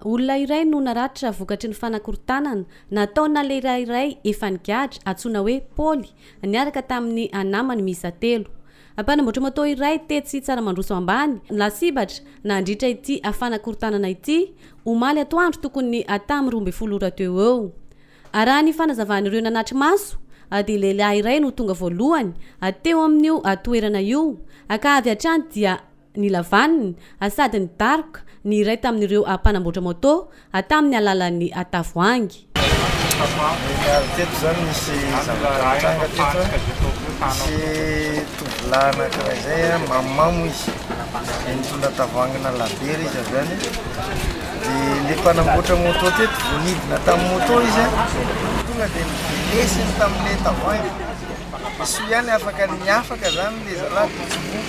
Olona iray no naratra vokatry ny fanakorontanana nataona lehilahy iray efa nigadra, antsoina hoe Paoly, niaraka tamin'ny anamany miisa telo. Mpanamboatra moto iray tetsy Tsaramandroso Ambany no lasibatra nandritra ity fanakorontanana ity, omaly atoandro tokony tamin'ny roa ambin'ny folo ora teo ho eo. Raha ny fanazavan'ireo nanatri-maso dia lehilahy iray no tonga voalohany teo amin'io toerana io ka avy hatrany dia ny lavaniny, ary sady nidaroka ny iray tamin'ireo mpanamboatra moto tamin'ny alalan'ny tavoahangy. Ary teto izany misy zavatra nitranga teto an, nisy tovolahy anankiray izay an, mamamo izy, dia nitondra tavoahangina labiera izy avy any, dia ilay mpanamboatra moto teto vao nidina tamin'ny moto izy an, tonga dia nilesiny tamin'ilay tavoahangy. Soa ihany afaka ny afaka zany le zalahy de tsy voa,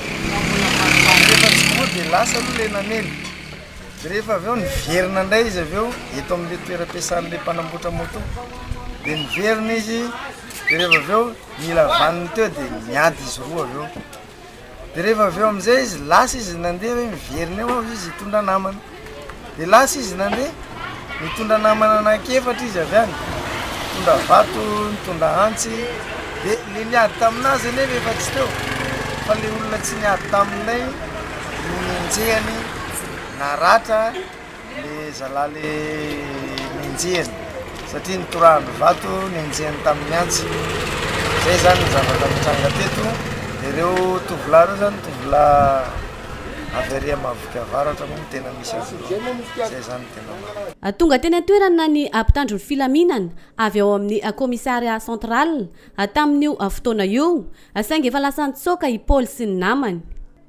rehefa tsy voa de lasa aloha le namely, de rehefa avy eo niverina ndray izy avy eo eto amle toeram-piasanle mpanamboatra moto, de niverina izy de rehefa avy eo nila vaniny teo de niady izy roa avy eo. dia rehefa avy eo amin'izay izy lasa izy nandeha hoe miverina eo aho izy hitondra namana dia lasa izy nandeha nitondra namana anankiefatra izy avy any nitondra vato nitondra antsy dia le niady taminazy anie rehefa tsy teo fa le olona tsy niady taminay no nenjehany naratra Le zalahy le nenjehiny satria nitorahany vato nenjehiny tamin'ny antsy. Zay zany ny zavatra nitranga teto. Ireo tovolahy ireo zany tovolahy avy ary Mahaviky Avaratra moa no tena misy azy ireo. Zay zany tena marina. Tonga teny an-toerana ny mpitandro ny filaminana avy ao amin'ny Commissariat Central tamin'io fotoana io saingy efa lasa nitsoaka i Paoly sy ny namany.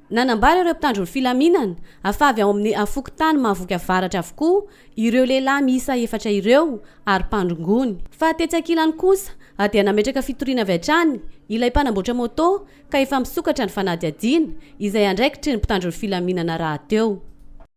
Nanambara ireo mpitandro ny filaminana, afa avy ao amin'ny fokontany Mahavoky Avaratra avokoa ireo lehilahy miisa efatra ireo ary mpandrongony. Fa tetsy ankilany kosa dia nametraka fitoriana avy hatrany ilay mpanamboatra moto ka efa misokatra ny fanadihadiana izay andraikitry ny mpitandro ny filaminana rahateo.